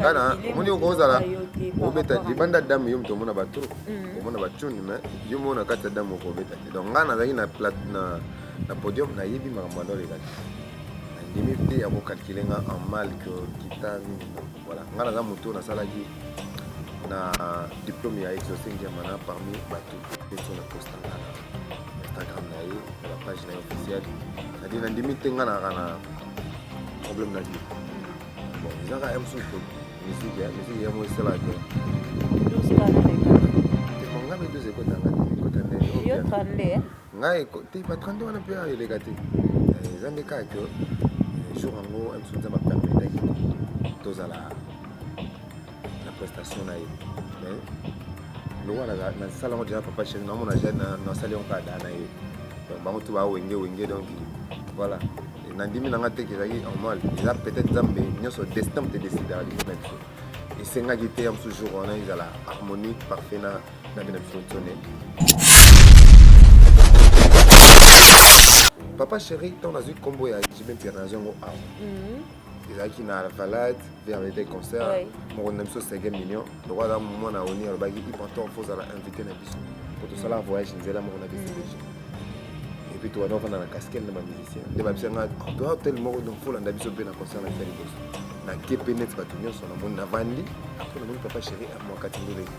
kana omoni okozala obeta libanda dame yo moto omona batro mm. omona batuni mais yo mona kati ya dame okobeta te donc ngai nazalaki na plate na na podium nayebi makambo yango oleka te nandimi te ya kokalkile nga en mal que kita mingi Voilà, nga naza moto nasalaki na diplome ya exaucé ngiamana parmi bato nyonso na posta nga na instagram na ye na bapage na ye officiel nadi nandimi te nga naka na problème na vie bon ezaka ya mosusu miziki miziki yango esalaka te manga mpe toza ekotanga te ekota nde ngai ekote ba 32 wana mpe eleka te eh, eza nde kaka ke eh, jour yango biso nzambe apermetaki tozala na prestation na ye mais lokola nasala yango deja papa chene namona deja nasali yango kaka daa na ye donc bango tu bawenge wenge donc voilà nandimi na nga te kezalaki normal eza peut-être nzambe nyonso destin mpe decidaka likolo na biso esengaki te ya mosusu jour wana ezala harmonie parfait na papa chéri ntango nazwi nkombo ya jibe mpira nazo yango awa mhm. ezalaki na alvalade vermete concert mokonzi na biso sege million loko aza mwana oni alobaki ipantor fo ozala invité na biso po tosala voyage nzela moko na biso deja epuis tobanda ofanda na casquele na bamusicien nde babisa nga toi hotel moko donc fo olanda biso mpe na concert na biso liboso nakepe neti bato nyonso namoni navandi apres namoni papa chéri amwakati ndoleki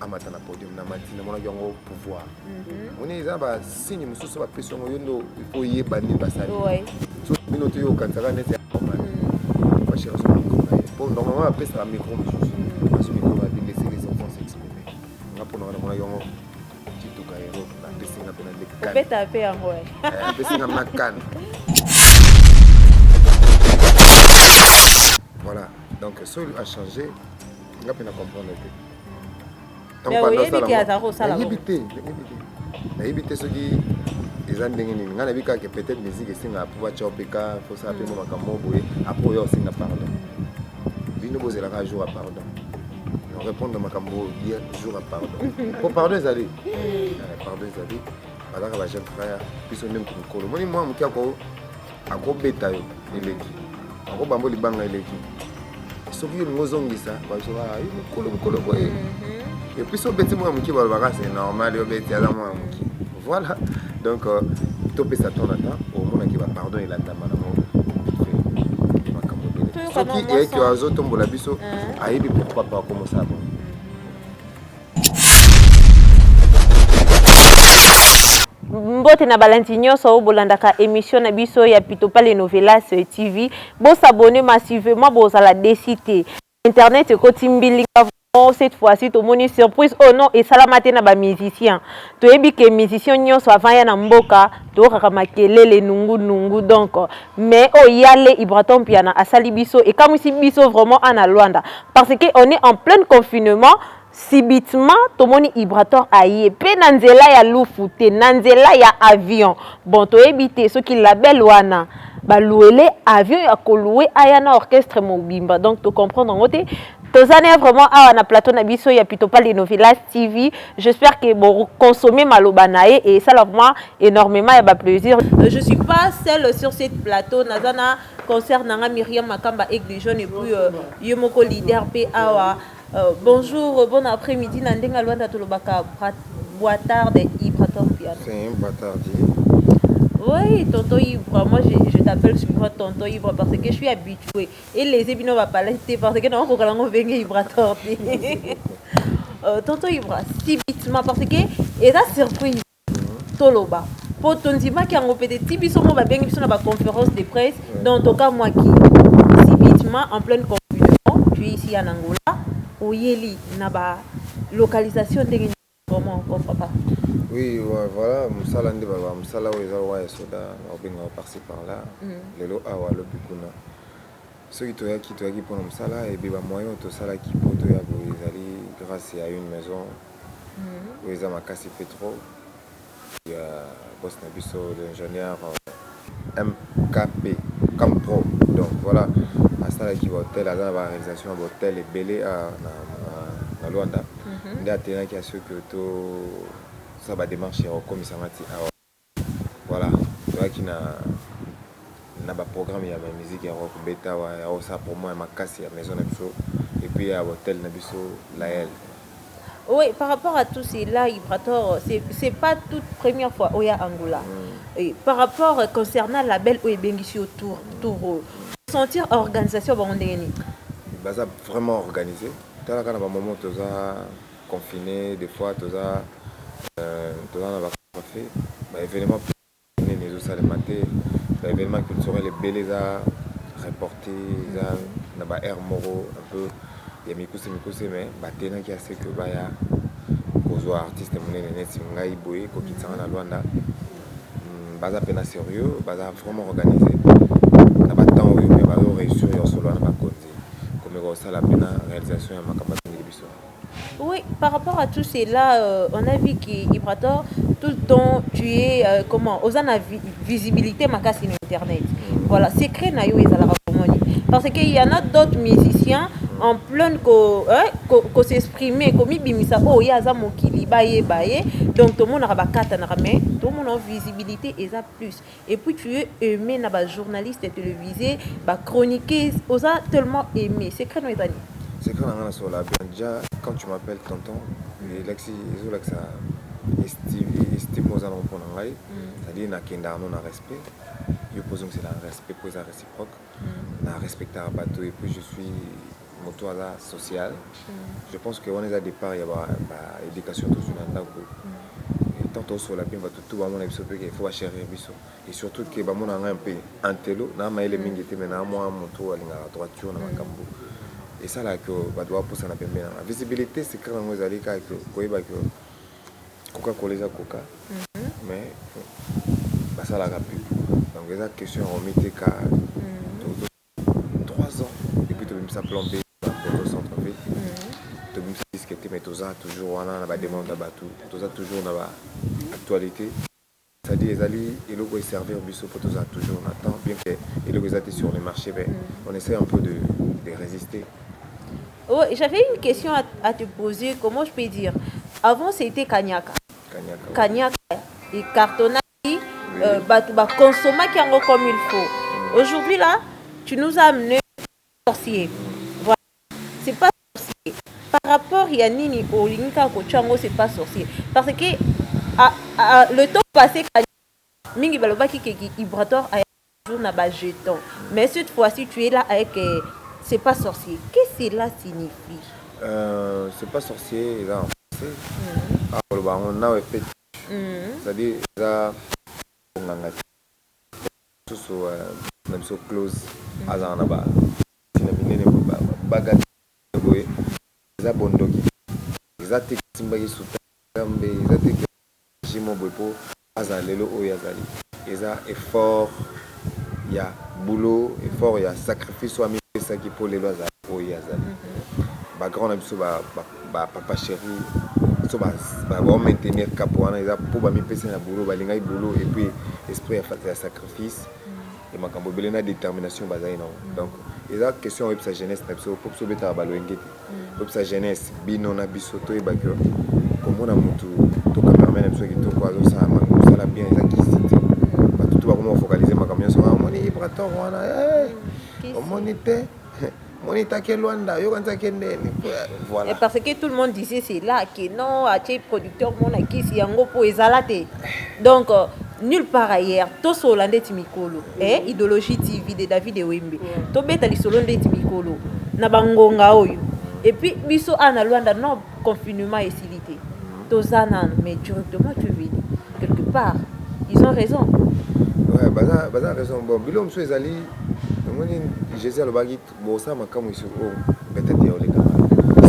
amata na podium na mati namonaki yango pouvoir mhm. moni eza basigne mosusu bapesi yango yo ndo oyeba nini basali so bino te yo okanisaka neti yakomana mhm. fashira so mikro na ye mpo normalement apesaka mikro mosusu mhm. aso mikro na bino esili les enfants s'exprimer nga mpo nanga namonaki yango kituka hero napesi nga mpe na lekobeta mpe yango eh, apesi nga makana voilà donc soki achange nga mpe na comprendre te nayebi te nayebi te soki eza ndenge nini ngai nayebi kaka peut-être musique esengaka mpo batya opeka fosala mpe mo mm. makambo moko boye apres oyo osenga pardon bino bozelaka jour ya pardon répondre makambo oyo ye jour ya pardon mpo pardon ezali mm. eh, pardon ezali bazaka ba jeune frère biso nde moto mikolo moni mwa moke ako akobeta yo eleki akobamba yo libanga eleki soki yo olingi ozongisa bazoba ah, yo mokolo mokolo boye mhm. epuis obeti mwana moke balobaka se normal yo obeti aza mwana moke voilà donc euh, topesa temps na temps omonaki bapardon elandama nango soki eyaki azotombola biso ayebi pourquoi pas akomosala bongo mbote na balandi nyonso oyo bolandaka émission na biso ya pitopale novelas tv bosabone massivement bozala desi te internet ekoti mbilinga vraiment cette fois-ci tomoni surprise oyo oh non esalama te na bamusicien toyebi ke musicien nyonso avant ya na mboka toyokaka makelele nungu nungu donc mais oyo oh, yale ibraton mpiana asali biso ekamwisi biso vraiment ana lwanda parce que on est en plein confinement Subitement tomoni Ibrator aye pe na nzela ya lufu te, na nzela ya avion. Bon toyebi te soki label wana ba louele avion ya ko loue aya na orchestre mobimba donc to comprendre yango te. Toza naye vraiment awa na plateau na biso ya Pitopale et Novelas TV. J'espère que bo consommer maloba naye et esala vraiment enormement ya ba plaisir. Je suis pas seule sur cette plateau, naza na consœur na nga Miriam Makamba Aigle Jaune et puis ye moko leader pe awa. Bonjour bon après midi na ndenge ya luanda tolobaka boa tarde ibrator piano c'est un batardier oui tonton ibra moi je, je t'appelle souvent tonton ibra parce que je suis habitué et les bino ba palais te parce que na kokola ngo venge ibrator te euh, tonton ibra si bitima parce que eza surprise Toloba po tondimaki yango pete ti biso moko babengi biso na ba conferences de presse donc tokamwaki subitement en pleine confinement tu es ici en Angola oyeli na ba localisation ndenge nini vraiment encore papa? Oui voilà musala nde ba musala oyo eza lokola ya soda bakobenga par ci par là lelo awa lobi kuna soki toyaki toyaki pona musala et puis ba moyens oyo tosalaki po toya boye ezali grace ya une maison oyo eza makasi pe trop ya boss na biso l'ingenieur MKP comme pro donc voilà asalaki ba hotel aza na ba réalisation ya ba hotel ebele na, na, na Luanda mm -hmm. nde atenaki asoki to sa ba démarche ya kokomisa nga ti awa Voilà toyaki na na ba programme ya ba musique ya rock beta wa ya osa promo ya makasi ya maison na biso et puis ya hotel na biso Lael. Oui, par rapport à tout cela, Ibrator, c'est pas toute première fois Oya Angola. Mm. Et par rapport euh, concernant la belle Oye Bengisi au tour, tour mm. sentir organisation Bangondeni. Baza vraiment organisé. Talaka na ba moment toza confine de fois toza toza na ba contrefe ba evenement nini ezo salema te ba evenement culturel ebele eza reporte eza na ba aire moko un peu ya mikuse mikuse mais ba tenaki ase que baya kozwa artiste munene neti ngai boye kokitsanga na Luanda hmm, baza pena serieux baza vraiment organise na ba temps oyo mais bazo réussir ya solo na bakonzi komeka kosala pena réalisation ya makambo Oui par rapport à tout cela euh, on a vu que Ibrator tout le temps tu es euh, comment oza na vi- visibilité makasi na internet voilà secret na yo ezalaka komoni parce que il y en a d'autres musiciens en pleine ko hein, ko, ko s'exprimer komibimisa oyo ye aza mokili bayeba ye donc tomonaka bakatanaka mais tomonao visibilité eza plus Et puis tu es aime na ba journaliste televise ba chroniqueuse oza tellement aime secret no eza nini secret na nga na sola bien déjà quand tu m'appelles tonton elakisi ezolakisa estime oza nango mpo na ngai mm. c'est-à-dire nakendaka no na respect yo mpo ozongisela respect mpo eza réciproque mm. na respectaka bato et puis je suis mutu aza social je pense que wana eza depart ya ba education tozwi na ndaku tant tosola mpe bato tout bamona biso mpe il faut bacherir biso et surtout ke bamona ngai mpe antelo na mayele mingi te me na mwa moto alingaka droiture na makambo esalaka ke bato bapusana pembe na ngai visibilité secret yango ezali kaka koyeba ke koka kola eza koka mais basalaka pub donc eza question ya komiteka Trois ans et puis tobimisa plan B na poto centre ville tobimisi disque te mais toza toujours wana na ba demande ya batu toza toujours na ba actualite c'est à dire ezali eloko oyo eservir biso po tozala toujours na temps bien que eloko eza te sur le marché mais on essaie un peu de, de résister Oh, j'avais une question à, à te poser, comment je peux dire Avant c'était Kanyaka. kanyaka Kanyaka, et cartonnage euh, batu ba consommaki yango comme il faut aujourd'hui là tu nous as amené sorcier voilà c'est pas sorcier par rapport ya nini olingi kaka kotya yango c'est pas sorcier parce que a, a, le temps passé mingi balobaki ke vibratoire aya jour na ba jeton mais cette fois-ci tu es là avec euh, c'est pas sorcier qu'est-ce que cela signifie euh, c'est pas sorcier eza en français akoloba yango nawe feti Ozali oza monganga te mususu na biso close azala na ba kisi na minene boye ba baga minene boye eza bondoki eza te kosimbaki sultana kanambe eza te ke regi moko boye po azala lelo oyo azali eza effort ya boulot effort ya sacrifice oyo amipesaki po lelo azala oyo ye azali ba grand na biso ba Ba papa cheri so ba ba maintenir cap wana eza po ba mipesa na boulot balingaki boulot et puis esprit ya sacrifice et makambo ebele na determination bazali na donc eza question oyebisa jeunesse na biso po biso obetaka ba loyenge te oyebisa jeunesse bino na biso toyeba que komona mutu to cameraman na biso kitoko azosala mosala bien eza kisi te bato to bakoma kofocalize makambo nyonso omoni ibrator wana omoni te monita ke luanda yo kanisa ke nene voilà Et parce que tout le monde disait c'est là que non atie producteur mona kisi yango po ezala te donc euh, nulle part ailleurs tosola ndeti mikolo eh, idéologie tv de david ewembe tobeta lisolo ndeti mikolo na bangonga oyo epuis biso awa na luanda non Confinement esili te. Toza nanu mais directement tu veux dire quelque part ils ont raison. Ouais, baza baza raison bon bilo mosusu ezali omoni Jésus alobaki bosala makambo isu o oh, betete ya oleka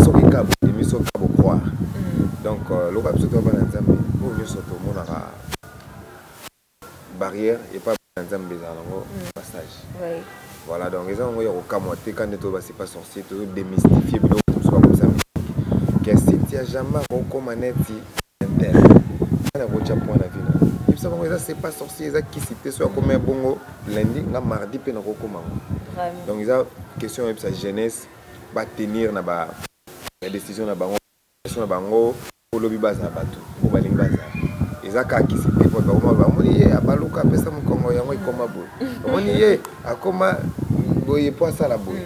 soki ka bondimi soki ka bocroire mm. donc euh, lokola biso toza bana nzambe oyo nyonso tomonaka Barrière epa bana nzambe ezala na ngo ba sage voilà donc eza na ngo ya kokamua te kani to ba c'est pas sorcier tozo demystifier biloko mususu ba komisa mystique que cynthia jamais akoki kokoma neti tintin nani akoki kotia point na vie na ye yebisa bango eza c'est pas sorcier eza kisi te soki akomi ya bongo lundi nga mardi pe nakoki kokoma yango donc eza question oyebisa jeunesse ba tenir na ba decision na bango. Question na bango po lobi bazala batu oyo balingi bazala eza kaka kisi te po bakoma ba omoni ye abaluka apesa mukongo yango ekoma boye omoni ye akoma boye po asala boye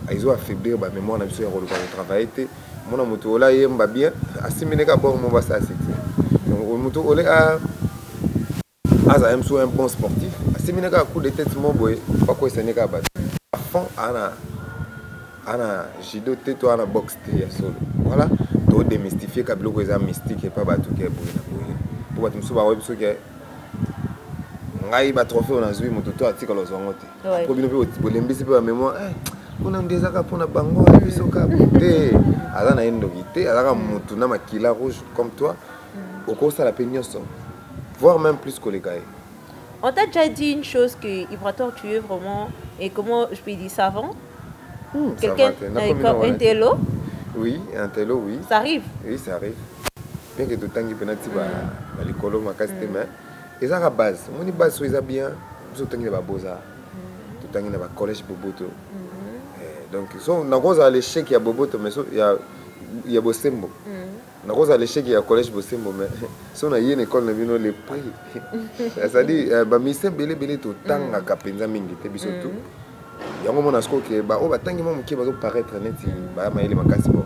ezo affaiblir ba memoire na biso ya koluka ko travailler te omona mutu ole ayemba bien asimbi nde kaka bongo mobo asala succès donc mutu ole a Aza même sou un bon sportif asimbi ne kaka coup de tete moko boye ba kweyisa ne kaka batu à fond ana ana judo te to ana boxe te ya solo voilà to demystifier ka biloko eza mystique epa batu ke boye na boye po batu mosusu ba webi soki ngai ba trophée na zui moto to atika lozwa ngo te ouais. po bino pe bolembisi pe ba memoire eh, kuna nde ezaka mpo na bango biso ka te aza na ye ndoki te azaka motu na makila rouge comme toi mm. okosala mpe nyonso voir meme plus koleka ye. On t'a déjà dit une chose que Ibrator tu es vraiment et comment je peux dire savant hmm, quelqu'un euh, un télo oui un télo oui ça arrive oui ça arrive bien que totangi pena ti ba hmm. likolo makasi te hmm. mais eza ka base omoni base oyo eza bien biso totangi na ba beaux arts totangi na ba collège boboto eh, donc so nakozala l'échec ya boboto mais so ya ya bosembo Nako zala echec ya collège Bosembo mais so na ye na ecole na bino le prix. C'est-à-dire euh, ba mystère bele bele to tangaka penza mingi te biso tout. Mm. Yango mona siko ke ba o ba tangi mo mukie bazo paraître neti ba mayele makasi bo.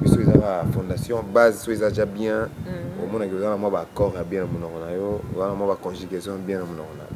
Biso ezaka fondation base so eza déjà bien. Mm. Omona ke ozana mwa ba accord ya bien na munoko na yo, ozana mwa ba conjugaison bien na munoko na yo.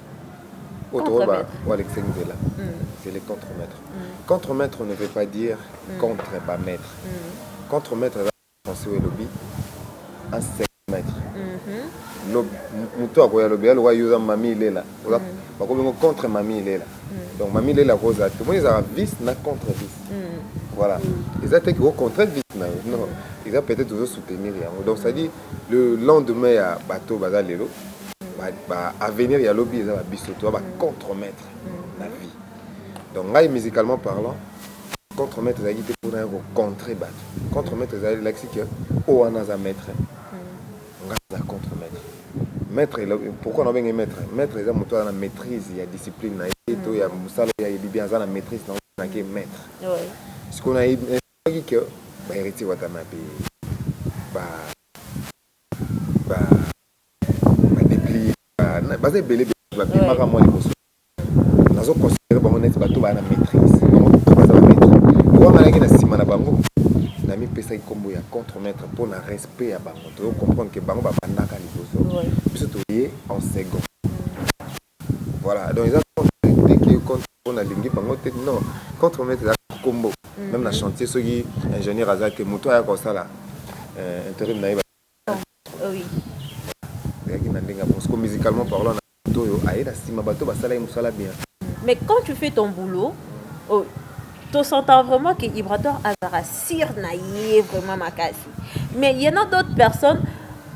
Oyo tokoyeba o alekisaki nzela c'est le contre maitre. Contre maitre ne veut pas dire contre ba maitres. Contre maitre eza na français oyo elobi un second maitre. Mutu oyo akoya alobi aloba yo oza Mamie Ilela bakomi yango contre Mamie Ilela. Donc Mamie Ilela akoki kozala te. Omoni ezalaka vice na contre vice. Voilà. Eza te ke o contrer vice na yo. Non. Eza peut-etre ozo soutenir yango. Donc c'est à dire le lendemain ya bateau baza lelo ba avenir ya lobi eza ba biso to ba contre maître na vie donc ngai musicalement parlant contre maître ezalaki te mpona ya ko contrer bato contre maître ezali elakisi ke o wana aza maître ngai aza contre maître maître pourquoi nabenge maître maître eza moto aza na maîtrise ya discipline na ye to ya mosala ya yebi bien aza na maîtrise na nake maître sikoyo na Ayebaki que ba Heritier Watanabe, ba Deplier, baza ebele ebele ba bimaka mua liboso naye. Nazo considerer bango neti batu baza na maitrise. Bango tout baza ba maitres. Pourquoi ngai nazalaki na sima na bango? Na mipesaki kombo ya contre maitre pona respect ya bango. Tozo comprendre que bango ba bandaka liboso, biso toye en second. Voilà donc eza po na lingi bango te non contre maitre eza kaka kombo meme na chantier soki ingenieur aza te mutu aya kosala interim naye ezalaki na ndenge ya poso po musicalement parlant na moto oyo aye na sima batu basala ye musala bien mais quand tu fais ton boulot to sentant vraiment que ibrator azalaka sur naye vraiment makasi mais y'en a d'autres personnes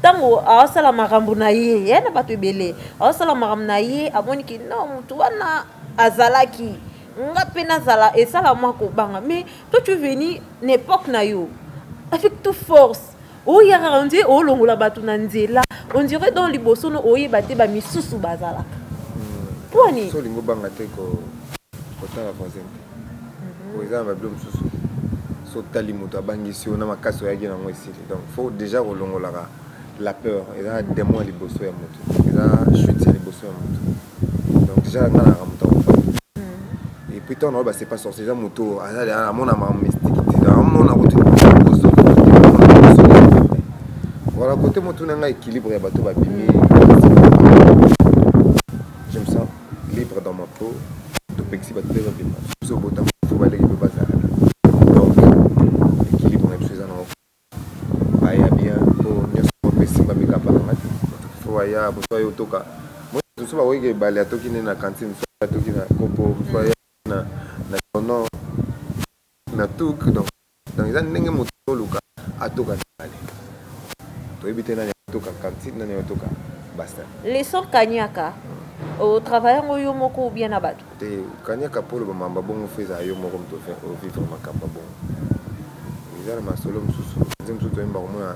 tango aosala makambo na ye ya na bato ebele aosala makambo na ye amoni ki no motu wana azalaki nga pe nazala esala mwa kobanga mais toi tu veni na epoque na yo avec tout force oyaka on dirait olongola bato na nzela on dirait donc liboso no oyeba te ba misusu bazalaka hmm. pwani so olingo banga te ko kotala voisin te eza na ba bilo mosusu so tali moto abangisi yo na makasi oyaki na yango esili donc faut déjà kolongolaka la peur eza na demon liboso ya moto eza chute ya liboso ya moto donc déjà nga na moto et puis tant na ba c'est pas sorcier eza moto aza de amona ma mystique ti na amona ko tu bozo voilà côté moto na nga équilibre ya bato ba bimi libre dans ma peau topekisi batu pe babima soki obotama il faut baleki pe bazala donc equilibre na biso eza na ngo baya bien po nionso moko pe simba mikapa na ngai faut aya mosusu aye otoka moi mosusu bakoki ke bale atoki nde na cantine mosusu aye atoki na kopo mosusu aye na na tono na took donc Donc eza ndenge mutu azo luka atoka mibale toyebi te nani ako toka cantine nani ako toka bassin. Le sort kanyaka o travailler yango yo moko ou bien na batu? Te kanyaka po oloba mamba bongo faut ezala yo moko mutu o vivre makambu ya bongo eza na masolo mususu ba musiciens mususu toyemba komona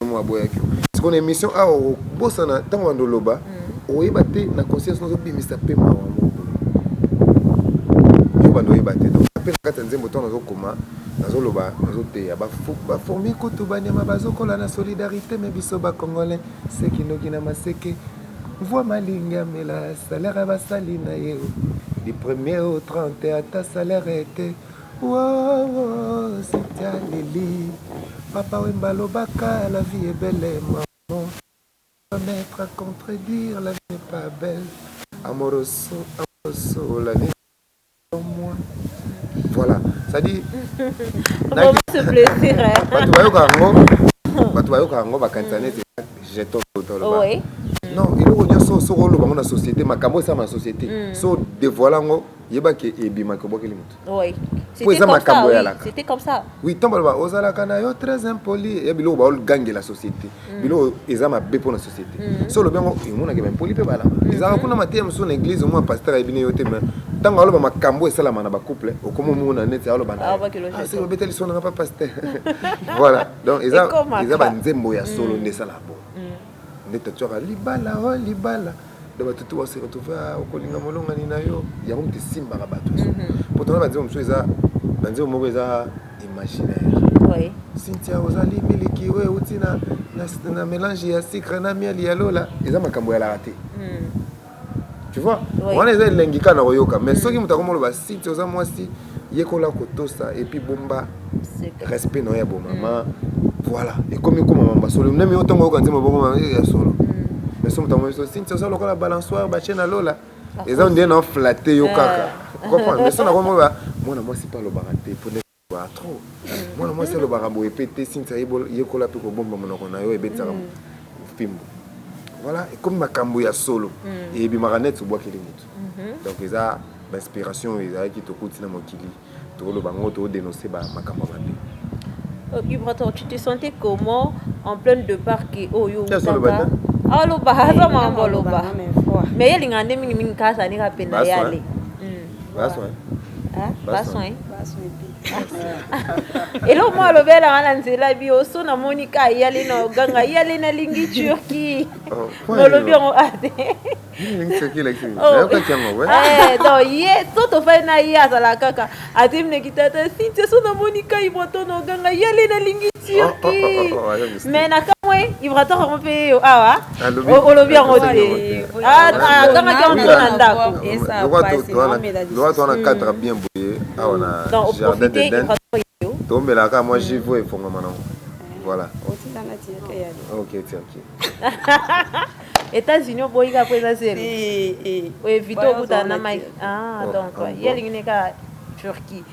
Mamu aboyaki yo. Sikoyo na emission awa okobosana tango bando oloba oyeba te na conscience nazo bimisa pe mawa moko boye. Yo bando oyeba te donc pe na kati ya nzembo tango nazo koma nazo loba nazo teya ba ba fourmis kutu ba nyama bazo kola na solidarite mais biso ba congolais se kinoki na maseke mvua malinga amela salaire ya basali na ye du premier au trente ata salaire te. Wowo Cynthia aleli papa wemba alobaka la vie est belle maman va mettre à contredire la vie n'est pas belle amoroso amoroso la vie moi voilà ça dit bato bayoka yango bato bayoka yango bakanisa nete jeton toloba non eloko nyonso soki oloba yango na société makambo esala na société so devoile yango yeba ke ebimaka obwakeli moto oui. po eza makambo yalaka c'était comme ça oui ntango baloba ozalaka na yo très impoli ya biloko baogangela société mm. biloko eza mabe mpo na société mm. so olobi yango emonaka baimpoli mpe bala mm-hmm. ezalaka kuna mateya mosusu na église omona pasteur ayebi ne yo te mais ntango aloba makambo esalama na bacouple okomi omona neti aloba na ah, soki obeteli so nanga pa pasteur voilà donc eza banzembo ya solo mm. nde esalaka bo nde tatu aka libala o libala donc batu tout base retrouver ah, okolinga molongani na yo yango moto esimbaka bato mhm. pourtant na banzembo mosusu eza banzembo moko eza imaginaire cynthia ozali miliki oyo euti na mélange ya sucre na miel ya lola eza makambo ya laka te mhm. tu vois wana eza elengi kaka na koyoka mais soki moto akomi oloba siti oza mwasi yekola kotosa epuis bomba respect na yo ya bomama voilà ekomi koma mamba solo meme yo ntango oyoka nzembo bokoma eh, ya solo mais so moto akomi biso siti oza lokola balansoire batie na lola eza ondie na oflate yo kaka eh. comprendre mais so nakomi mwana mwasi mpe alobaka te Ba trop mwana mwasi alobaka boye pe te Cynthia yekola pe kobomba monoko na yo ebetisaka mm. fimbu voilà ekomi makambo ya solo mm. ebimaka net obwakeli motu mhm. donc eza bainspiration oyo ezalaki tokuti na mokili tokoloba yango todenonse makambo ya mabe vibrateur euh, tu te sentais comment en pleine de parke oyo olobaka aloba aza mambo aloba mais ye alingaka nde mingimingi kaka azalika mpe na yale eloko moko alobi alanga na nzela bi oso namoni ka yale na oganga yale nalingi turki nolobi yango ate ye so tofai na ye azalaka kaka ate mineki tata sintia so namoni kai moto na oganga yale nalingi turki me nakamwe ibrator yango mpe yeyo awa olobi yango teakamaki yango na ndakowana katra bien boye awa na jardin de den tomelaka mwa jivo efongama nango voilà ok tiaki États-Unis oboyi kaka mpo eza zelo oevite okutana na mike donc ye alingi ne kaka turquie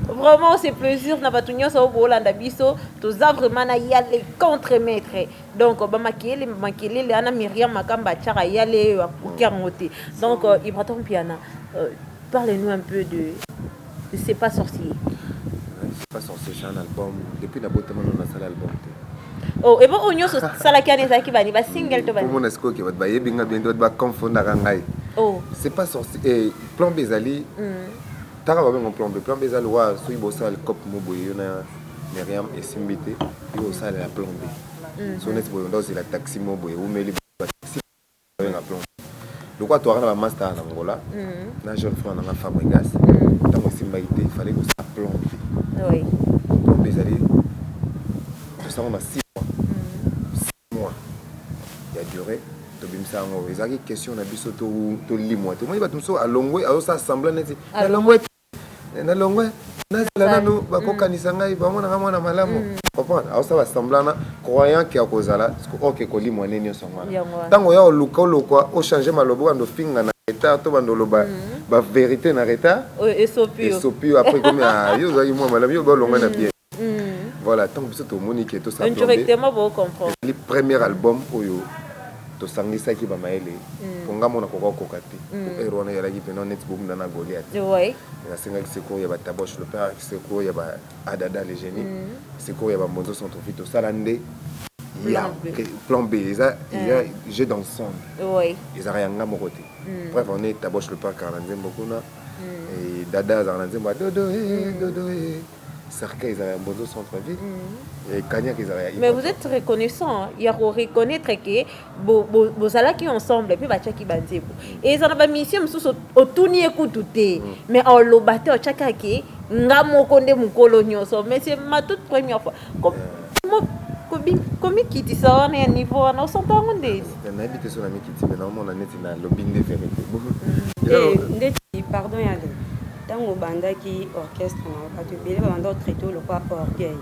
vraiment c'est plaisir na bato nyonso oyo boolanda biso toza vraiment na yale contre maître donc bamakele makelele ana miriam makamba atyaka yale oyo akoki yango te donc euh, ibraton piana euh, parle nous un peu de c'est pas sorcier c'est pas sorcier c'est un album depuis nabotama no nasala album te oh, ebo oyo nyonso salaki wana ezalaki bani basingle to bani omona sikoyo ke bato bayebi nga bien te bato baconfondaka ngai oh. c'est pas sorcier eh, Plan B ezali taka ba bengo plan B. Plan B eza lokola soki bosala likope mo boye yo na Myriam esimbi te, yo osala ya plan B. So neti boye ndo ozela taxi mo boye umeli ba taxi benga plan B. Lokola toaka na ba master na Angola na jeune frère na nga Fabregas, tango esimbaki te fallait kosala plan B. Oui. Plan B ezali tosala na 6 mois. mois ya duree tobimisa yango ezalaki question na biso tolimwa te omoni bato mosusu alongwe azosala semblant neti nalongwe te nalongwe nazala nanu bakokanisa ngai bamonaka mwana malamu comprendre aosala semblant na croyant ke akozala oke kolimwa nde nyonso yango wana ntango oya oluka olokwa ochange maloba obanda ofinga na retard to banda oloba baverité na retard esopi yo apres ekomi yo ozalaki mwa malamu yo baolonga na bien Voilà, tango biso tomoni que tosa plombe, ezali premier album oyo tosangisaki ba mayele, po nga moko nakoka kokoka te, po heure wana ezalaki penza neti bobunda na Goliath, mais nasengaki secours ya ba Tabosh le père, secours ya ba Adada le genie, secours ya ba Mbonzo Centrofit, tosala nde ya plan B, eza jeux d'ensemble, ezalaka ya nga moko te, preuve en est Tabosh le père azalaka na nzembo kuna, Dada azalaka na nzembo ya dodo eh, dodo eh. Cercueil ezala ya Mbonzo centre ville et Kaniaka ezala ya Mais vous êtes reconnaissant ya ko reconnaître que bozalaki ensemble pe batiaki ba nzembo. Et ezala ba mission mosusu otuni ye kutu te mm. mais oloba te otiaka ke nga moko nde mokolo nyonso mais c'est ma toute première fois. komikitisa wana ya niveau wana osanta yango nde nayebi te so namikiti me naomona neti nalobi nde verité eh, ndeti pardon yale Tango obandaki orchestre na yo batu ebele ba banda ko traiter yo lokola orgueil.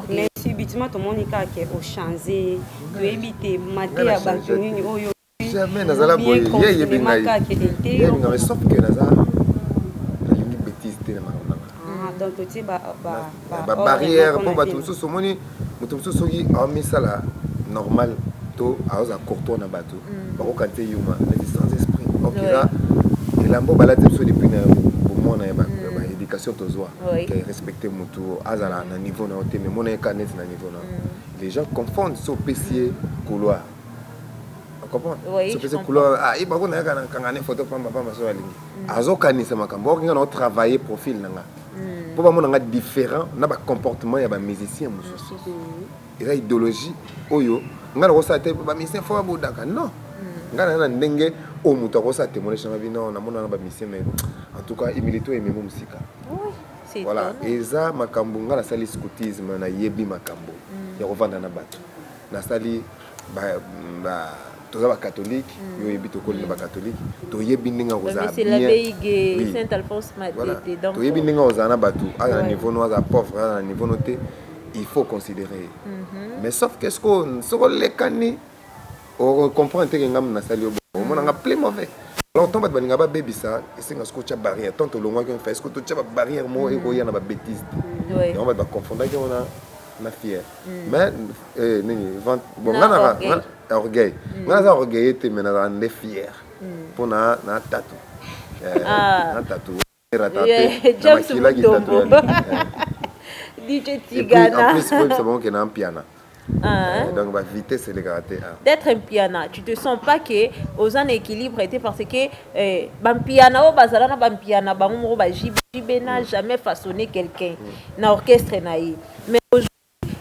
Mais subitement to moni kaka ke o change, to yebi te mateya ya batu nini oyo Jamais nazala boye, ye ayebi ngai, ye ayebi ngai mais sauf que naza, nalingi betise te na makambo na ngai. Ah donc otie ba ba barrière mpo bato mosusu omoni moto mosusu soki aomisala normal to aoza courtois na bato mm. bakokani te yuma neti sans esprit okila elambo balati biso depuis na bomwana ya baéducation mm. tozwa ke respecte motu azala na niveau na yo te mais mona ye ka neti na niveau na yo mm. les gens confondent so opesi ye couloir sopesi couleur ah, ye bakona yaka na kangane photo pamba pamba so alingi azokanisa makambo okinga na otravaille profil na nga mpo bamona nga différent na ba comportement ya ba musicien mosusu eza idéologie oyo ngai nakosala te ba musicien fo babodaka non ngai naza na ndenge oyo moto akosala témoignage nanga bino namona na ba musicien mais en tout cas humilité oyo ememi mosika voilà eza makambo ngai nasali scoutisme nayebi makambo ya kovanda na bato nasali toza bakatholike mm. yo oyebi tokoli na mm. bakatholike toyebi ndenge akozala toyebi ndenge akozala na bato aza na niveau no aza pauvre aza na niveau no te il faut considérer mm-hmm. mais sauf que soko soko olekani ocomprendre teke ngambo nasali yo bongo omonanga plus mauvais alors ntango bato balinga babebisa esenga soko otya barrière tant tolongwaki mfa soko totya babarrière moko ekoya na babétise te yango bato baconfondaki yango na na fier mm. mais eh, nini vente bon nga na orgueil mm. nga naza orgueil te mais nazala nde fier mm. mpo na na tatu eh, ah. na tatu rata te na makila kitatu DJ Tigana. Et puis, en plus, c'est bon qu'il y a un piano. Ah, hein? donc ba vitesse elekaka te ah. d'être mpiana tu te sens pas que oza na équilibre te parce que Eh ba mpiana oyo bazala na ba mpiana bango moko ba JB. JB n'a mm. jamais façonné quelqu'un mm. na orchestre na ye. Mais aujourd'hui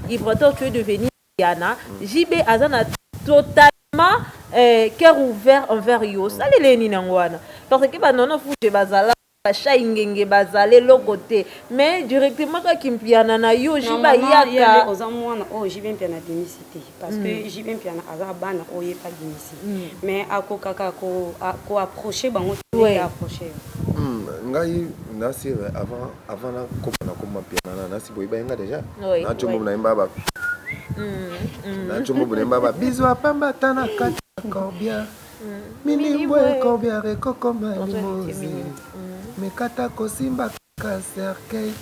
Ibrator tu es devenu mpiana. Mm. JB aza na total vraiment euh, cœur ouvert envers yo osaleli ye nini yango wana parce que banono fuge bazala ba shayi ngenge bazala eloko te mais directement kaka kimpiana na yo JB ayaka oza mwana oyo JB mpiana abimisi te parce que mm. JB mpiana aza bana oyo ye abimisi mm. mais akokaka ko, ko approcher bango te approcher mm, ngai nasi avant avant na koma na koma mpiana na nasi boyeba yenga déjà na chombo na yemba ba na chombo na yemba ba bisous apamba tana kati combien Minibwe combien ekokoma limozi mais kata kosimba kaka cercueil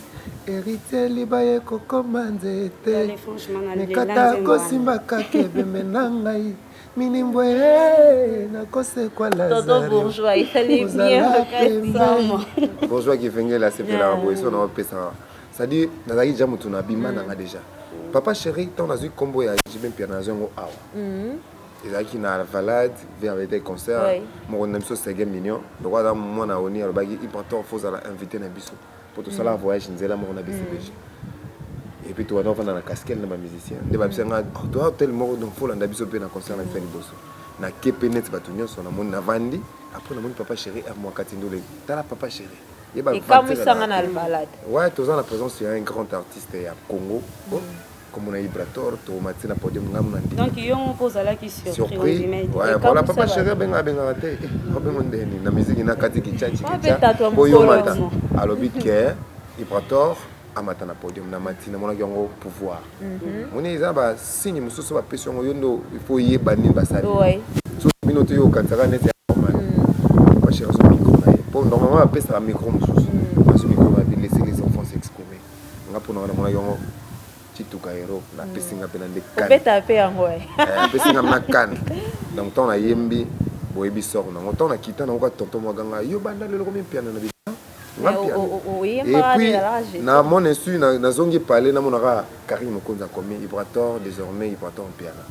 heritier libaya ekokoma nzete mais kata kosimba kaka ebembe na ngai minibwe nakosekwa lazare ozala pembe bourgeois kivengele asepelaka boye so na opesaka c'est-à-dire nazalaki deja motu na bima na nga deja papa chéri ntango nazwi nkombo ya jb mpiana nazwi yango awa ezalaki na alvalade vie avait des concerts Oui. moko na biso sege mignon lokola aza mwana oni alobaki ipator fozala invité na biso mpo tosala voyage nzela moko na bcbg et puis tobanda kofanda na caskel na bamusicien nde babisa nga "Oh, toa hotel moko donc folanda biso mpe na concert na biso ya liboso na kepe neti bato nyonso namoni navandi après namoni papa chéri ermoakati ndule tala papa chéri ye ba ekamwisanga na albalade ouais toza na présence ya un grand artiste ya congo oh, Comme on a Ibrator, to mati na podium ngamu na ndimi. Donc yo moko ozalaki surpris. Surpris. Ouais, voilà papa chéri abenga abenga na te. Abenga eh, ndeni na musique na kati kichachi kicha. Po yo mata. Alobi ke Ibrator amata na podium na mati na monaki yango pouvoir. Mhm. Moni eza ba signe mosusu ba pesi yango yo ndo il faut yeba nini basali. Ouais. So bino te yo katsaka neti normal. Mhm. Papa chéri so micro na ye. Po normalement apesa micro mosusu. nga pona nga namonaki yango cituka hero napesi nga mpena nde obetaka mpe yango eh, apesi nga mna kane donc ntango nayembi boyebi sor nango ntango nakita nango ka tonton mwa ganga yo banda lelo komimpiana na bita nga mpiana epuis na mon insu nazongi pale namonaka karine mokonzi akomi ibrator désormais ibrator mpiana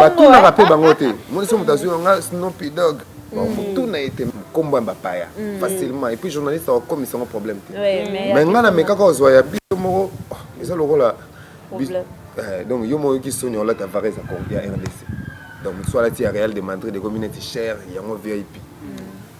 batunaka mpe bango te monisi moto azwi yanga snopi dog tuna ete nkombo ya bapaya mm. facilement epuis journaliste akokomisa yango problème te mai ngai namekaka ozwa ya biso moko oh, eza lokola eh, donc yo moko oyoki soni olata vares ya rdc donc mosusu alati ya real de madrid ekomi neti cher yango vip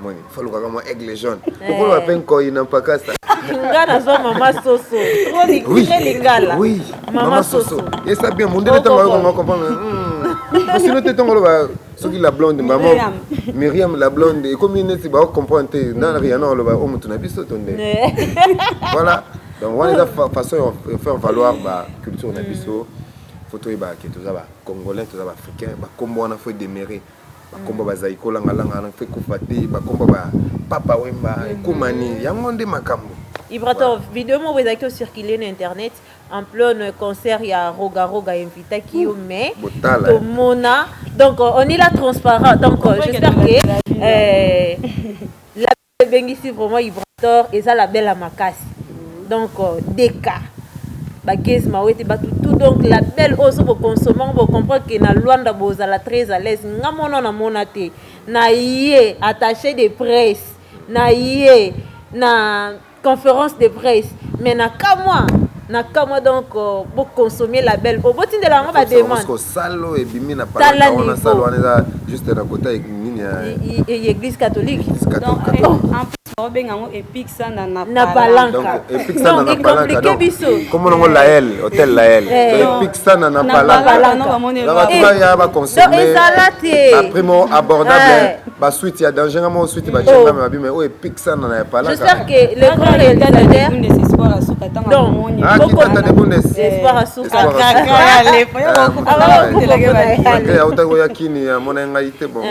omoni fo alukaka mwa aigle jaune Eh. okoloba mpe nkoi na mpakasa nga nazwa mama soso trop li- Oui. très lingala Oui. mama soso esa bien mondele ntango Oko- ayokanga comprendre osino te ntango oloba soki la blonde maman Myriam. miriam la blonde ekomi neti baocomprendre te na riana oloba o motu na biso to nde Eh. voilà donc wana eza fa- façon ya faire valoir ba culture na biso fo toyebaka ke toza ba congolais toza ba africain bakombo wana fo edemere bakombo bazali kolangalanga na mpe kufa te bakombo ba papa wemba mhm. ekomani yango nde makambo ibrator video moko ezalaki ocircule na internet en pleine concert ya roga roga invitaki yo mais tomona donc on est là transparent donc j'espère que euh, Ebengisi vraiment ibrator eza label ya makasi donc DK ba gez mawete batu tout donc label oyo soki bo consommer yango bo comprendre que na Luanda bozala très à l'aise nga mwana oyo na mona te na ye attache de presse na ye na conference de presse mais na kamua na kamwa donc euh, bo consommer label oyo botindela yango ba demande ko salo ebimi na palata wana salo wana eza juste na kota nini ya église catholique donc en plus ba benga ngo epic sana na na palanca donc epic sana na palanca donc comme on la L hôtel la L eh. epic sana na palanca donc ba moni ba ya ba consommer donc ezalate ba primo abordable eh. ba suite ya danger nga moko suite ba chenga ma bima oyo epic sana na ya pala j'espère que le grand réalisateur de espoir asuka tanga donc moni ah qui tata de bundes espoir asuka kaka ya lepo ya ko ko ko ya uta ko ya kini ya mona ngai te bon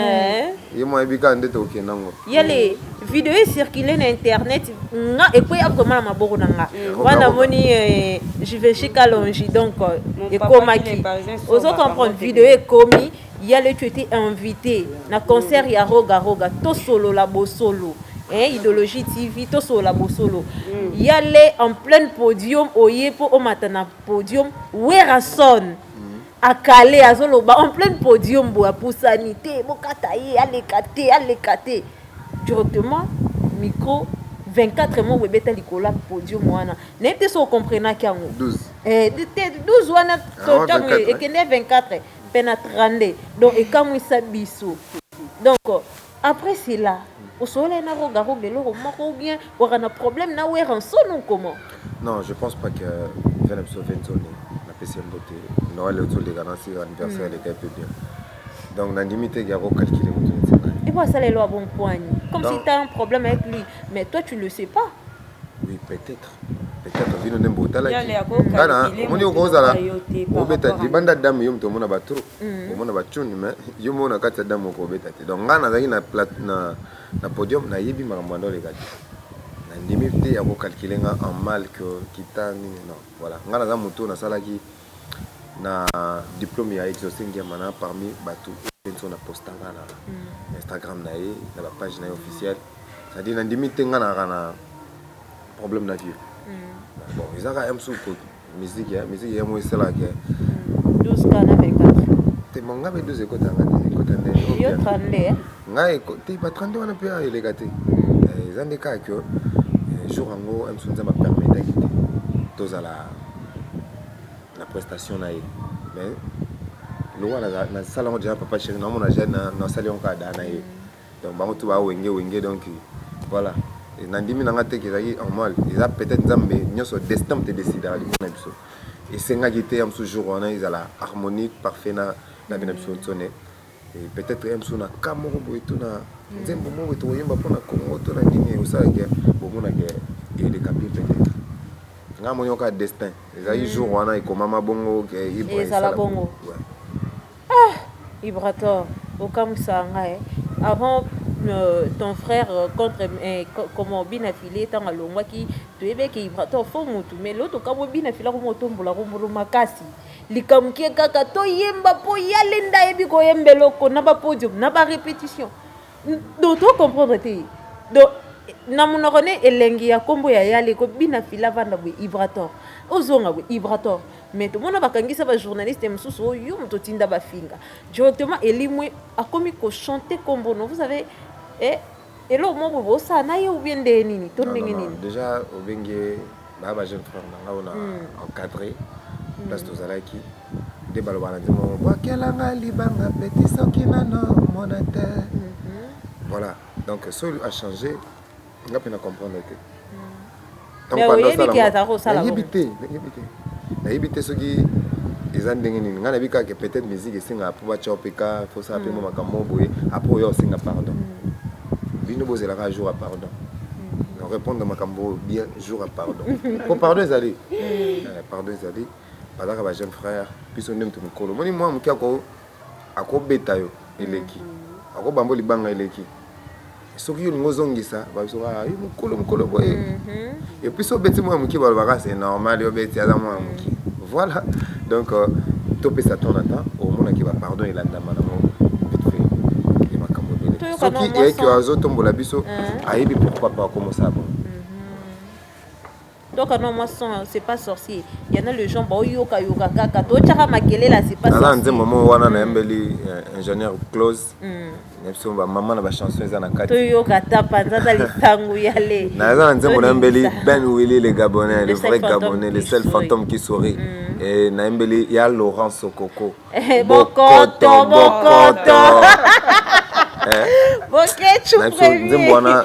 ye mo ebika ndete okenda ngo yale video ecircule na internet nga ekwei akoma na maboko na nga wana moni eh, jiveshika longi donc euh, ekomaki ozo comprendre video ekomi Yale tu etais invite na concert ya Roga Roga tosolola bosolo eh, Idologie TV tosolola bosolo mm. Yale en pleine podium oye po omata na podium Werrason mm. akale azoloba en pleine podium boye apusani te bokata ye aleka te aleka te directement micro 24 mois boye ebeta likolo ya podium wana nayebi te so ocomprenaki yango eh, te 12 wana ah, ntango ekende 24 pe na 32 donc ekamwisa biso donc après cela osololaki na roga roga eloko moko ou bien waka na problème na werrason ou comment non je pense pas que vena biso venzone napesi mbote noel ozoleka na sika anniversaire eleka hmm. pe bien donc nandimi te yako calcule moto nzela epo asala elo abompoani comme si tu as un problème avec lui mais toi tu le sais pas Oui, peut-être. Peut-être vino nde botalaki. Yale ako Nga na calculer omoni moto okozala eloko ya yo te par obeta rapport à libanda dame yo moto omona ba trop. Omona ba tune mais yo moko na kati ya dame okobeta te. Donc nga nazalaki na plat na na podium nayebi makambo manda oleka te. Na ndimi te ya ko calculer nga en mal que kita nini non. Voilà, nga naza moto oyo nasalaki na diplome ya Exauce Ngiamana parmi batu oyo Kendzo na posta nga na Instagram na ye na ba page na ye officiel c'est à dire na ndimi te nga nazalaka na problème na vieux bon eza kaka ya mosusu ko musique ya musique ya yango esala ke 12 ka na meka te bon nga be 12 ekota nga te ekota nde yo 32 nga eko te ba 32 wana pe eleka te eza nde kaka que jour yango ya mosusu nzambe apermetaki te tozala na prestation na ye mais lokola nasala yango deja papa chéri naomona deja nasali yango kaka da na ye donc bango tu bawenge wenge donc voilà nandimi na ngai te kezalaki normal eza peut-être nzambe nyonso destin te décidaka liboso na biso esengaki te ya mosusu jour wana ezala harmonie parfait na na bino biso nso ne Et peut etre ya mosusu na cas moko boye to na nzembo moko boye tokoyemba mpo na congo to na nini osala ke bomona ke eleka bien peut etre ngai moni yoka destin ezalaki jour wana ekomama bongo ke ibra ezala esala bongo Ouais. ah ibrator okamusa nga eh. avant euh, ton frère euh, contre eh, co- comment bina file ntango alongwaki toyebi eke ibrator fo mutu mais loto kamwe bina file akomi otombola kombolo makasi Likambo kie kaka toyemba po yale nde ayebi koyemba eloko na ba podium na ba repetition donc to comprendre te donc na monoko ne elengi ya kombo ya yale ko bina fila vanda boye ibrator ozonga boye ibrator mais tomona bakangisa ba journaliste mosusu oyo yo moto otinda bafinga directement elimwe akomi ko chanter kombo no vous avez eh, Eloko moko boye bosala na ye ou bien ndenge nini to ndenge nini? Dejà obengi ye ba ba jeune frère na nga oyo na encadrer place tozalaki nde baloba na nzembo yango bwakela nga libanga petit soki nano mona te voilà donc soki a changer nga mpe na comprendre te mais oyebi ke azalaka kosala nayebi te nayebi te nayebi te soki eza ndenge nini ngai nayebi kaka peut-être musique esengaka mpo batya yo mpe ka mpo osala mpe mwa mm. makambo boye apres oya osenga pardon mm. bino bozelaka jour ya pardon mm. répondre makambo bien jour ya pardon mpo pardon ezali eh, pardon ezali bazalaka ba jeune frère biso nde moto mikolo omoni mwa moke akobeta yo eleki akobambo libanga eleki soki yo olingi ozongisa babiso kaka ah, yo mokolo mokolo boye mhm. epuis obeti mwana moke balobaka se normal yo obeti aza mwana moke voilà donc euh, topesa temps na temps omonaki bapardon elandama nango ya makambo ebele soki eyaki azotombola biso eh. ayebi pourquoi pa akomosala bongo Toka noix moi son c'est pas sorcier. Il y en a les gens bao yoka yoka kaka to tchaka makelela c'est pas sorcier. Nana nzembo mo wana na yembeli ingénieur Close. Mm. Na biso ba maman na ba chanson eza na kati. To yoka ta panza ta litangu ya le. Na eza nzembo na yembeli Ben Willy le Gabonais, le vrai Gabonais, le seul fantôme qui sourit. Mm. Et na yembeli ya Laurent Sokoko. Eh, bokoto bokoto boketshu premiernzemboana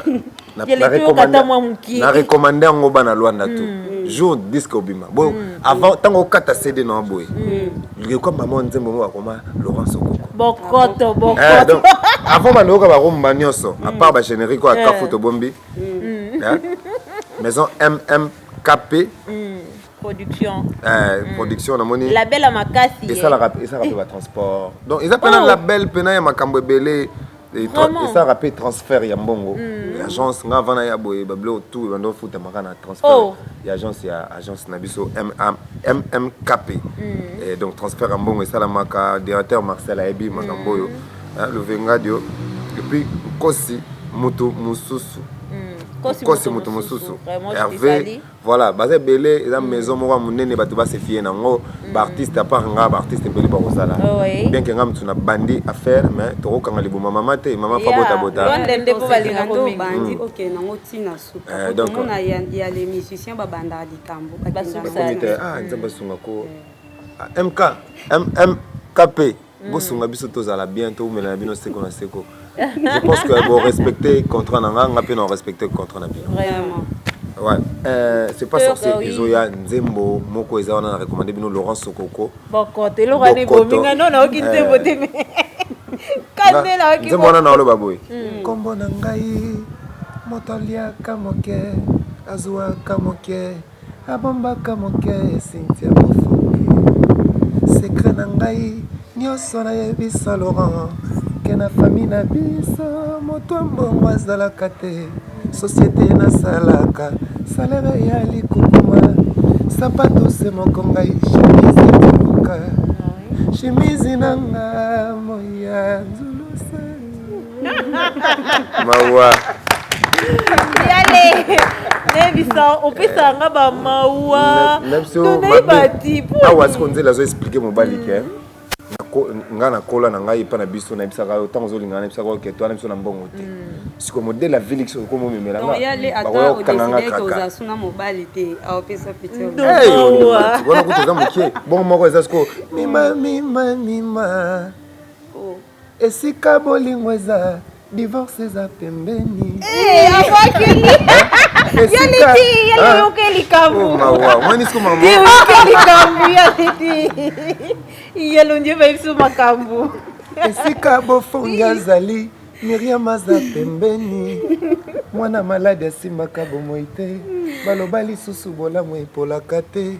na recommande yango bana lwanda to mm. jour disque obima bo mm. avant ntango okata cd na boye lekwa mm. mama nzembo yango bakoma laurence okoko bokoto bokoto eh, avant bandoyoka bakomba nyonso apart bagénérique oyo akafu eh. tobombi maison mmkp production eh, mm. production namoni label ya makasi esalaka eh. esalaka mpe batransport donc eza mpe na oh. label mpe na ya makambo ebele esalaka mpe transfert ya mbongo mm. ya agence nga vana ya boye babilo tout ebanda ofutamaka na transfert oh. ya agence ya agence na biso mmkp mm. eh, donc transfert ya mbongo esalamaka directeur marcel ayebi makambo oyo eh, luvengadio epuis nkosi moto mosusu nkosi moto mosusu herve Voilà baza ebele eza maison moko munene bato ba se fier na ngo ba artistes à part nga ba artistes ebele ba kozala bien que nga mutu na bandi affaire mais toko kanga liboma mama te mama fa bota bota Londres nde po balinga ko mema bandi ok na ngo tina suka donc on a ya les musiciens ba banda likambo ba kenda ah nzambe sunga ko MK MKP bosunga biso tozala bien toumela na bino seko na seko je pense que bo respecte contrat na nga nga mpe na respecte contrat na bino Ouais. Euh, c'est pas sorcier euh, oui. ezoya nzembo moko eza wana na recommande bino laurent sokoko bokoto eloko wana ebominga no naoki nzembo te me kandela oki nzembo wana naoloba boye nkombo hmm. na ngai moto aliaka moke azuaka moke Nabombaka moke Cynthia Bofoke Secret na ngai nioso na yebisa Laurent Ke na famille na biso moto ya mbongo azalaka te Societe na salaka salaire eya likukuma Sapatu se moko ngai chemise etuluka Chemise na nga moyi ya nzuluse mawa yale nayebisa opesaka nga bamawa nayebati awa siko nzela azo explike mobali ke ngai nakola na ngai epai na biso nayebisaka yo ntango ozolinga nayebisaka yo keto wana biso na mbongo te mm. siko modele ya vilix okomi omemela ngabakoya kokanga nga kakawana kutu eza moke bongo moko eza siko mima mima mima Esika bolingo eza divorce eza pembeni. Eh, abwakili. Yo liti, ye liyoke likambo. Oh, mawa, mwani siku maman. Liyoke likambo ya liti. Ye lonje ba biso makambo. Esika bofongi azali Miriam aza pembeni. Mwana malade asimbaka bomoi te. Baloba lisusu bolamu epolaka te.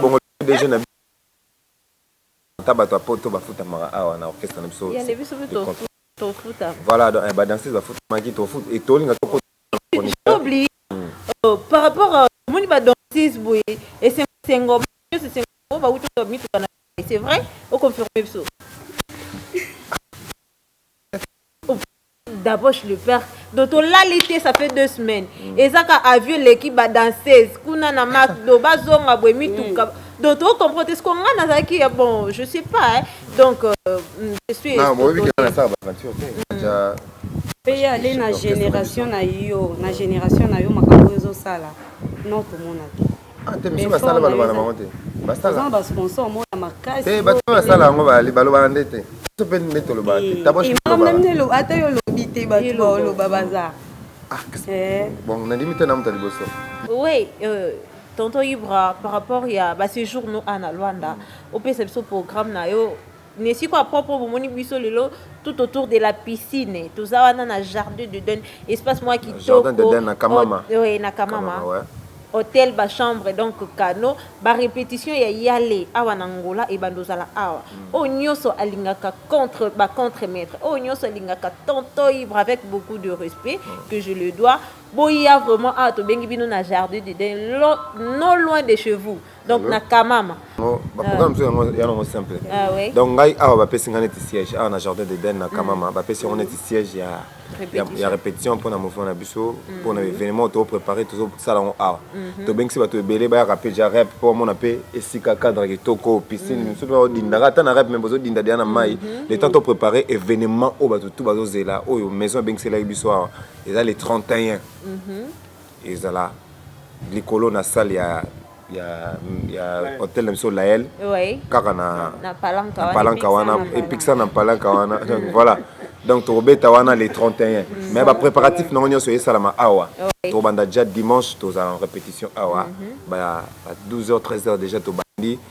Bongo pdg na biso Tonton Ata batu ya poto ba futamaka awa na orchestre na biso c'est de contre Voilà donc eh ba danseuse ba futamaki et to linga to kota na chroniqueur Dabosh le père donc tolali te ça fait deux semaines eza ka avion eleki ba danseuse kuna na macdo bazonga boye mituka donc to comprendre te siko nga nazalaki ya bon je sais pas hein. donc euh, je suis na boyebi ke na sala ba aventure te aja pe ye ale na generation na yo na generation na yo makambo oyo ezosala non tomona te ante biso basala baloba na bango te basala basponsor mona makasi te bato basala yango bali balobaka nde te biso mpe nde tolobaka te taboshimamnamnelo ata yo olobi te bato baoloba baza ah, eh. bon nandimi te na moto ya liboso oui euh, tonton ibra par rapport ya baséjour no ana lwanda opesa biso programme na yo Na esiko ya propre oyo bomoni biso lelo tout autour de la piscine toza wana na jardin d'eden espace moko ya kitoko na kamama hotel ba chambre donc cano ba repetition ya yale awa na angola ebanda ozala awa oyo nioso alingaka contre ba contre maitre oyo nioso alingaka tonton ibre avec beaucoup de respect que je le dois boya vraiment awa tobengi bino na jardin d'eden non loin de chez vous donc na kamama baprogramme mosusu yango ya nango simple ah donc ngai awa bapesi ngai neti siège awa na jardin d'eden na kamama mm. bapesi yango neti siège ya ya répétition mpona mouvement na biso mpona mm. événement toprépare tozosala yango awa mm-hmm. tobengisi bato ebele bayaka mpe ja rep mpo bamona mpe esika cadre kitoko piscine mm. misusu odindaka ata na rep me bozodinda deya na mai mm-hmm. le temps toprépare événement oyo bato tu bazozela oyo maison ebengiselaki biso awa eza le 31 mm-hmm. ezala likolo na salle ya ya ya hotel na biso lael oui. kaka na na palanka na palanka wana epikisa na palanka wana donc voilà donc tokobeta wana le 31 mm. mais bapréparatif nango nyonso esalama awa oui. tokobanda déjà dimanche tozala en répétition awa mm -hmm. ba 12 heures 13 heures déjà tobandi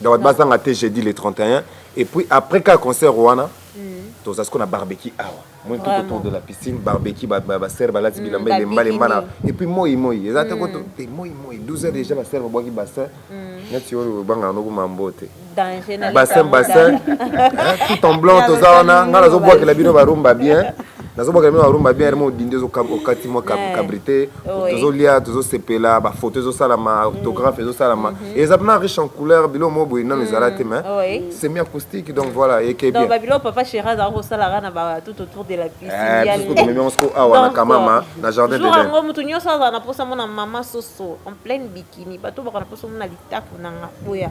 Donc bato bazanga te jeudi le 31 et puis après kaka concert wana toza siko na barbecue awa moi tout Vraiment. autour de la piscine barbecue ba ba- ba sœur balati bilamba ba elemba lemba na bikini. et puis moi moi eza te koto te moi moi 12 heures déjà ba sœur babwaki bassin neti oyo obangaka noko mambo te danger na bassin likambo bassin kaka. hein, tout en blanc Ya toza wana basali ngai nazobwakela bino barumba bien nazobaka bino barumba bien remo odindi okati mwa eh, cabrite tozolia tozosepela bafoto ezosalama mm. orthographe ezosalama mm-hmm. eza mpena riche en couleur biloko moko boye nano ezala te mais mm. semi acoustique donc voilà eke bien babiloko papa chéri azalaka kosalaka na ba tout autour de la piscineomemi yango siko awa na kamama na jardin jour yango moto nyonso azala na mposa mona mama soso en pleine bikini bato baka na mposa mona litaku nanga boya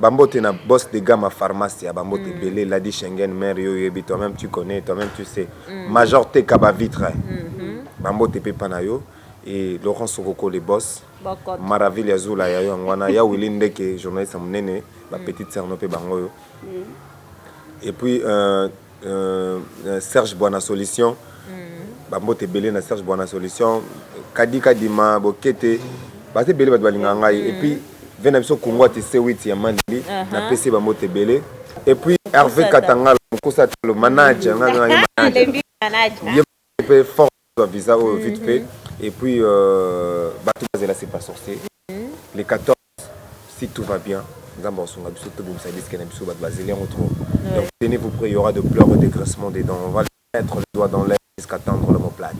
Ba mbote na boss de gama pharmacia ba mbote ebele ladi shengen mère yo oyebi toi meme tu connais toi meme tu sais major teka ba vitre ba mbote pe epa na yo et Laurent sokoko le boss maravilla zula ya yo yango wana ya willy ndeke journaliste ya munene ba petite sœur no pe bango oyo et puis euh Euh, Serge Bwana Solution. Mm. Ba mbote ebele na Serge Bwana Solution. Kadi Kadima, Bokete. Ba te bele bato balinga ngai. Mm. Et puis, vena biso Kongo ati C8 ya Manili. Uh -huh. Na pese ba mbote ebele. Et puis, Hervé Katangala, Mokosa Talo, manager. Nga nga ye manager. Ye pe fort ba visa oyo vite fait. Mm-hmm. Et puis, euh, bato bazela c'est pas sorcier. Mm-hmm. Les 14 si tout va bien nzambe akosunga biso tobimisa disque na biso batu bazeli yango trop donc tenez vous près il y'aura de pleure et de grincement de dents on va mettre le doigt dans l'air jusqu'à tendre l'homme aux plates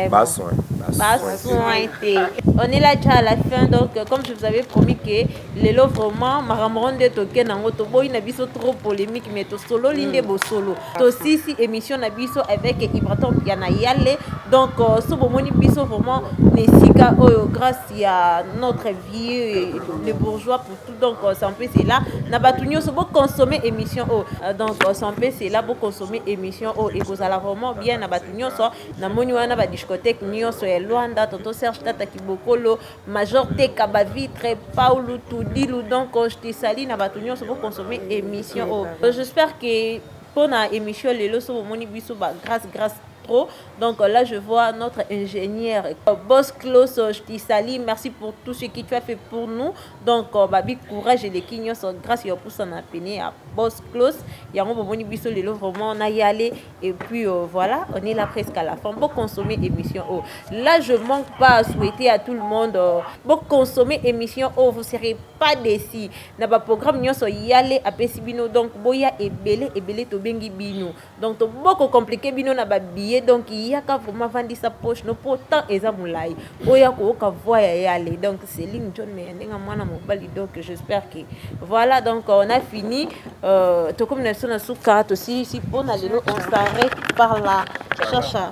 ba soin ba soin te on est là déjà à la fin donc comme je vous avais promis que lelo vraiment makambo nde toke nango toboyi na biso trop polémique mais tosololi nde mm. bosolo tosisi émission na biso avec ibraton ya na yale donc euh, so bomoni biso vraiment na esika oyo grâce ya notre vieux le bourgeois pour tout donc sans plus c'est là na batu nyoso bo consommer émission oh donc sans plus c'est là bo consommer émission oh et vous allez vraiment bien na batu nyoso na moni wana ba discothèque nyoso ya Luanda tonton Serge Tata Kibokolo Major Teka ba vitre Paulo Tudilu donc je te salue na batu nyoso bo consommer émission oh j'espère que pona émission lelo so bomoni biso ba grâce grâce trop donc là je vois notre ingénieur boss clos je te salie merci pour tout ce qui tu as fait pour nous donc babi courage eleki nyonso grâce ya pusa na pene ya boss clos yango bomoni biso lelo vraiment na yale et puis euh, voilà on est là presque à la fin bo consommer émission oh là je manque pas à souhaiter à tout le monde euh, bo consommer émission oh vous serez pas déçu na ba programme nyonso yale apesi bino donc boya ebele ebele tobengi bino Donc to boko complique bino na ba billets donc yaka vraiment vandisa poche no po temps eza mulayi oya ko oka voix ya yale donc Celine John mais ndenga mwana mobali donc j'espère que voilà donc on a fini euh, to comme na sona suka to si si pona lelo on s'arrête par là chacha